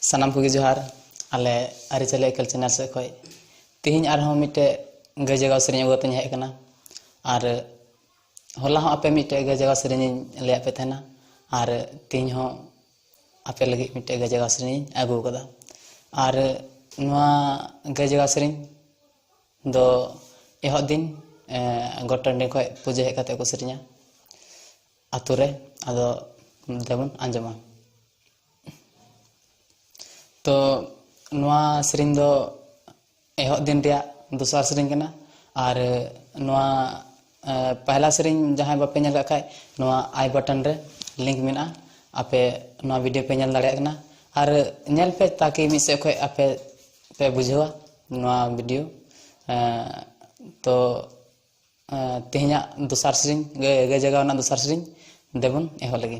ᱥᱟᱱᱟᱢ ᱠᱚᱜᱮ ᱡᱚᱦᱟᱨ ᱟᱞᱮ ᱟᱹᱨᱤᱪᱟᱹᱞᱤ ᱮᱠᱮᱞ ᱪᱮᱱᱮᱞ ᱥᱮᱫ ᱠᱷᱚᱱ ᱛᱮᱦᱮᱧ ᱟᱨᱦᱚᱸ ᱢᱤᱫᱴᱮᱡ ᱜᱟᱹᱭ ᱡᱟᱜᱟᱣ ᱥᱮᱨᱮᱧ ᱟᱹᱜᱩ ᱠᱟᱛᱮᱧ ᱦᱮᱡ ᱟᱠᱟᱱᱟ ᱟᱨ ᱦᱚᱞᱟ ᱦᱚᱸ ᱟᱯᱮ ᱢᱤᱫᱴᱮᱡ ᱜᱟᱹᱭ ᱡᱟᱜᱟᱣ ᱥᱮᱨᱮᱧᱤᱧ ᱞᱟᱹᱭᱟᱫ ᱯᱮ ᱛᱟᱦᱮᱱᱟ ᱟᱨ ᱛᱮᱦᱮᱧ ᱦᱚᱸ ᱟᱯᱮ ᱞᱟᱹᱜᱤᱫ ᱢᱤᱫᱴᱮᱡ ᱜᱟᱹᱭ ᱡᱟᱜᱟᱣ ᱥᱮᱨᱮᱧᱤᱧ ᱟᱹᱜᱩ ᱟᱠᱟᱫᱟ ᱟᱨ ᱱᱚᱣᱟ ᱜᱟᱹᱭ ᱡᱟᱜᱟᱣ ᱥᱮᱨᱮᱧ ᱫᱚ ᱮᱦᱚᱵ ᱫᱤᱱ ᱜᱚᱴ ᱴᱟᱺᱰᱤ ᱠᱷᱚᱱ ᱯᱩᱡᱟᱹ ᱦᱮᱡ ᱠᱟᱛᱮᱫ ᱠᱚ ᱥᱮᱨᱮᱧᱟ ᱟᱹᱛᱩ ᱨᱮ ᱟᱫᱚ ᱫᱮᱵᱚᱱ ᱟᱸᱡᱚᱢᱟ ᱛᱚ ᱱᱚᱣᱟ ᱥᱮᱨᱮᱧ ᱫᱚ ᱮᱦᱚᱵ ᱫᱤᱱ ᱨᱮᱭᱟᱜ ᱫᱚᱥᱟᱨ ᱥᱮᱨᱮᱧ ᱠᱟᱱᱟ ᱟᱨ ᱱᱚᱣᱟ ᱯᱟᱦᱞᱟ ᱥᱮᱨᱮᱧ ᱡᱟᱦᱟᱸᱭ ᱵᱟᱯᱮ ᱧᱮᱞ ᱠᱟᱜ ᱠᱷᱟᱡ ᱱᱚᱣᱟ ᱟᱭ ᱵᱟᱴᱚᱱ ᱨᱮ ᱞᱤᱝᱠ ᱢᱮᱱᱟᱜᱼᱟ ᱟᱯᱮ ᱱᱚᱣᱟ ᱵᱷᱤᱰᱤᱭᱳ ᱯᱮ ᱧᱮᱞ ᱫᱟᱲᱮᱭᱟᱜ ᱠᱟᱱᱟ ᱟᱨ ᱧᱮᱞ ᱯᱮ ᱛᱟᱠᱤ ᱢᱤᱫ ᱥᱮᱫ ᱠᱷᱚᱡ ᱟᱯᱮ ᱯᱮ ᱵᱩᱡᱷᱟᱹᱣᱟ ᱱᱚᱣᱟ ᱵᱷᱤᱰᱤᱭᱳ ᱛᱚ ᱛᱮᱦᱮᱧᱟᱜ ᱫᱚᱥᱟᱨ ᱥᱮᱨᱮᱧ ᱜᱟᱹᱭ ᱡᱟᱜᱟᱣ ᱨᱮᱱᱟᱜ ᱫᱚᱥᱟᱨ ᱥᱮᱨᱮᱧ ᱫᱮᱵᱚᱱ ᱮᱦᱚᱵ ᱞᱮᱜᱮ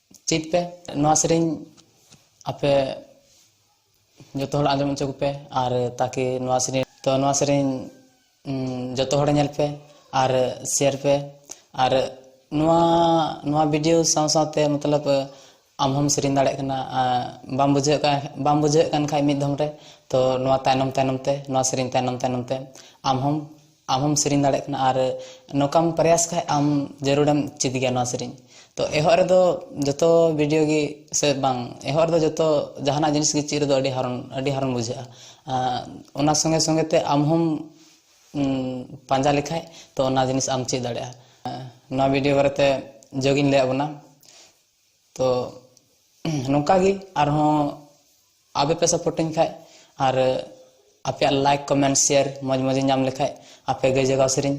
ᱪᱮᱫ ᱯᱮ ᱱᱚᱣᱟ ᱥᱮᱨᱮᱧ ᱟᱯᱮ ᱡᱚᱛᱚ ᱦᱚᱲ ᱟᱸᱡᱚᱢ ᱦᱚᱪᱚ ᱠᱚᱯᱮ ᱟᱨ ᱛᱟᱠᱤ ᱱᱚᱣᱟ ᱥᱮᱨᱮᱧ ᱛᱚ ᱱᱚᱣᱟ ᱥᱮᱨᱮᱧ ᱡᱚᱛᱚ ᱦᱚᱲ ᱧᱮᱞ ᱯᱮ ᱟᱨ ᱥᱮᱭᱟᱨ ᱯᱮ ᱟᱨ ᱱᱚᱣᱟ ᱱᱚᱣᱟ ᱵᱷᱤᱰᱤᱭᱳ ᱥᱟᱶ ᱥᱟᱶᱛᱮ ᱢᱚᱛᱞᱚᱵ ᱟᱢ ᱦᱚᱢ ᱥᱮᱨᱮᱧ ᱫᱟᱲᱮᱭᱟᱜ ᱠᱟᱱᱟ ᱵᱟᱢ ᱵᱩᱡᱷᱟᱹᱣ ᱠᱟᱱ ᱵᱟᱢ ᱵᱩᱡᱷᱟᱹᱣ ᱠᱟᱱ ᱠᱷᱟᱡ ᱢᱤᱫ ᱫᱷᱚᱢ ᱨᱮ ᱛᱚ ᱱᱚᱣᱟ ᱛᱟᱭᱱᱚᱢ ᱛᱟᱭᱱᱚᱢ ᱛᱮ ᱱᱚᱣᱟ ᱥᱮᱨᱮᱧ ᱛᱟᱭᱱᱚᱢ ᱛᱟᱭᱱᱚᱢ ᱛᱮ ᱟᱢ ᱦᱚᱢ ᱟᱢ ᱦᱚᱢ ᱥᱮᱨᱮᱧ ᱫᱟᱲᱮᱭᱟᱜ ᱠᱟᱱᱟ ᱟᱨ ᱱᱚᱝᱠᱟᱢ ᱯᱨᱚᱭᱟᱥ ᱠᱷᱟᱱ ᱟᱢ ᱡᱟᱹᱨᱩᱲᱮᱢ ᱪᱮᱫ ᱜᱮᱭᱟ ᱱᱚᱣᱟ ᱥᱮᱨᱮᱧ ᱛᱚ ᱮᱦᱚᱵ ᱨᱮᱫᱚ ᱡᱚᱛᱚ ᱵᱷᱤᱰᱤᱭᱳ ᱜᱮ ᱥᱮ ᱵᱟᱝ ᱮᱦᱚᱵ ᱨᱮᱫᱚ ᱡᱚᱛᱚ ᱡᱟᱦᱟᱱᱟᱜ ᱡᱤᱱᱤᱥ ᱜᱮ ᱪᱮᱫ ᱨᱮᱫᱚ ᱟᱹᱰᱤ ᱦᱟᱨᱚᱱ ᱟᱹᱰᱤ ᱦᱟᱨᱚᱱ ᱵᱩᱡᱷᱟᱹᱜᱼᱟ ᱚᱱᱟ ᱥᱚᱸᱜᱮ ᱥᱚᱸᱜᱮ ᱛᱮ ᱟᱢ ᱦᱚᱢ ᱯᱟᱸᱡᱟ ᱞᱮᱠᱷᱟᱱ ᱛᱚ ᱚᱱᱟ ᱡᱤᱱᱤᱥ ᱟᱢ ᱪᱮᱫ ᱫᱟᱲᱮᱭᱟᱜᱼᱟ ᱱᱚᱣᱟ ᱵᱷᱤᱰᱤᱭᱳ ᱵᱟᱨᱮᱛᱮ ᱡᱚᱜᱽ ᱤᱧ ᱞᱟᱹᱭᱟᱫ ᱵᱚᱱᱟ ᱛᱚ ᱱᱚᱝᱠᱟ ᱜᱮ ᱟᱨᱦᱚᱸ ᱟᱯᱮ ᱯᱮ ᱥᱟᱯᱳᱨᱴᱤᱧ ᱠᱷᱟᱡ ᱟᱨ ᱟᱯᱮᱭᱟᱜ ᱞᱟᱭᱤᱠ ᱠᱚᱢᱮᱱᱴ ᱥᱮᱭᱟᱨ ᱢᱚᱡᱽ ᱢᱚᱡᱽ ᱧᱟᱢ ᱞᱮᱠᱷᱟᱡ ᱟᱯᱮ ᱜᱟᱹᱭ ᱡᱟᱜᱟᱣ ᱥᱮᱨᱮᱧ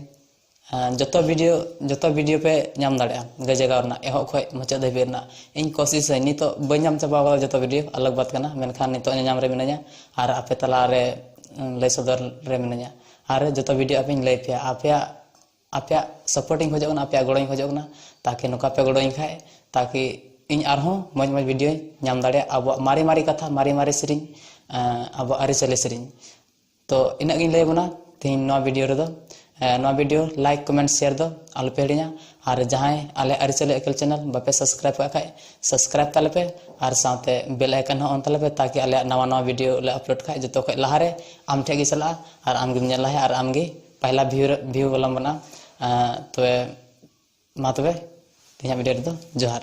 ᱡᱚᱛᱚ ᱵᱷᱤᱰᱤᱭᱳ ᱡᱚᱛᱚ ᱵᱷᱤᱰᱤᱭᱳ ᱯᱮ ᱧᱟᱢ ᱫᱟᱲᱮᱭᱟᱜᱼᱟ ᱜᱟᱹᱭ ᱡᱟᱜᱟᱣ ᱨᱮᱱᱟᱜ ᱮᱦᱚᱵ ᱠᱷᱚᱡ ᱢᱩᱪᱟᱹᱫ ᱫᱷᱟᱹᱵᱤᱡ ᱨᱮᱱᱟᱜ ᱤᱧ ᱠᱚᱥᱤᱥ ᱟᱹᱧ ᱱᱤᱛᱚᱜ ᱵᱟᱹᱧ ᱧᱟᱢ ᱪᱟᱵᱟ ᱠᱟᱫᱟ ᱡᱚᱛᱚ ᱵᱷᱤᱰᱤᱭᱳ ᱟᱞᱟᱜᱽ ᱵᱟᱛ ᱠᱟᱱᱟ ᱢᱮᱱᱠᱷᱟᱱ ᱱᱤᱛᱚᱜ ᱧᱮᱧᱟᱢ ᱨᱮ ᱢᱤᱱᱟᱹᱧᱟ ᱟᱨ ᱟᱯᱮ ᱛᱟᱞᱟᱨᱮ ᱞᱟᱹᱭ ᱥᱚᱫᱚᱨ ᱨᱮ ᱢᱤᱱᱟᱹᱧᱟ ᱟᱨ ᱡᱚᱛᱚ ᱵᱷᱤᱰᱤᱭᱳ ᱟᱯᱮᱧ ᱞᱟᱹᱭ ᱯᱮᱭᱟ ᱟᱯᱮᱭᱟᱜ ᱟᱯᱮᱭᱟᱜ ᱥᱟᱯᱳᱨᱴ ᱤᱧ ᱠᱷᱚᱡᱚᱜ ᱠᱟᱱᱟ ᱟᱯᱮᱭᱟᱜ ᱜᱚᱲᱚᱧ ᱠᱷᱚᱡᱚᱜ ᱠᱟᱱᱟ ᱛᱟᱠᱤ ᱱᱚᱝᱠᱟ ᱯᱮ ᱜᱚᱲᱚ ᱟᱹᱧ ᱠᱷᱟᱡ ᱛᱟᱠᱤ ᱤᱧ ᱟᱨᱦᱚᱸ ᱢᱚᱡᱽ ᱢᱚᱡᱽ ᱵᱷᱤᱰᱤᱭᱳᱧ ᱧᱟᱢ ᱫᱟᱲᱮᱭᱟᱜ ᱟᱵᱚᱣᱟᱜ ᱢᱟᱨᱮ ᱢᱟᱨᱮ ᱠᱟᱛᱷᱟ ᱢᱟᱨᱮ ᱢᱟᱨᱮ ᱥᱮᱨᱮᱧ ᱟᱵᱚᱣᱟᱜ ᱟᱹᱨᱤᱪᱟᱹᱞᱤ ᱥᱮᱨᱮᱧ ᱛᱚ ᱤᱱᱟᱹᱜ ᱜᱤᱧ ᱞᱟᱹᱭ ᱟᱵᱚᱱᱟ ᱛᱤᱦᱤᱧ ᱱᱚᱣᱟ ᱵᱷᱤᱰᱤᱭᱳ ᱨᱮᱫᱚ ᱱᱚᱣᱟ ᱵᱷᱤᱰᱤᱭᱳ ᱞᱟᱭᱤᱠ ᱠᱚᱢᱮᱱᱴ ᱥᱮᱭᱟᱨ ᱫᱚ ᱟᱞᱚᱯᱮ ᱦᱤᱲᱤᱧᱟ ᱟᱨ ᱡᱟᱦᱟᱸᱭ ᱟᱞᱮ ᱟᱹᱨᱤᱪᱟᱹᱞᱤ ᱮᱠᱮᱞ ᱪᱮᱱᱮᱞ ᱵᱟᱯᱮ ᱥᱟᱵᱥᱠᱨᱟᱭᱤᱵ ᱠᱟᱜ ᱠᱷᱟᱡ ᱥᱟᱵᱥᱠᱨᱟᱭᱤᱵ ᱛᱟᱞᱮ ᱯᱮ ᱟᱨ ᱥᱟᱶᱛᱮ ᱵᱮᱞ ᱟᱭᱠᱚᱱ ᱦᱚᱸ ᱚᱱ ᱛᱟᱞᱮ ᱯᱮ ᱛᱟᱠᱤ ᱟᱞᱮᱭᱟᱜ ᱱᱟᱣᱟ ᱱᱟᱣᱟ ᱵᱷᱤᱰᱤᱭᱳ ᱞᱮ ᱟᱯᱞᱳᱰ ᱠᱷᱟᱡ ᱡᱚᱛᱚ ᱠᱷᱚᱡ ᱞᱟᱦᱟᱨᱮ ᱟᱢ ᱴᱷᱮᱡ ᱜᱮ ᱪᱟᱞᱟᱜᱼᱟ ᱟᱨ ᱟᱢ ᱜᱮᱢ ᱧᱮᱞ ᱞᱟᱦᱟᱭᱟ ᱟᱨ ᱟᱢ ᱜᱮ ᱯᱟᱦᱞᱟ ᱵᱷᱤᱭᱩ ᱨᱮ ᱵᱷᱤᱭᱩ ᱵᱟᱞᱟᱢ ᱵᱮᱱᱟᱜ ᱛᱚᱵᱮ ᱢᱟ ᱛᱚᱵᱮ ᱛᱮᱦᱮᱧᱟᱜ ᱵᱷᱤᱰᱤᱭᱳ ᱨᱮᱫᱚ ᱡᱚᱦᱟᱨ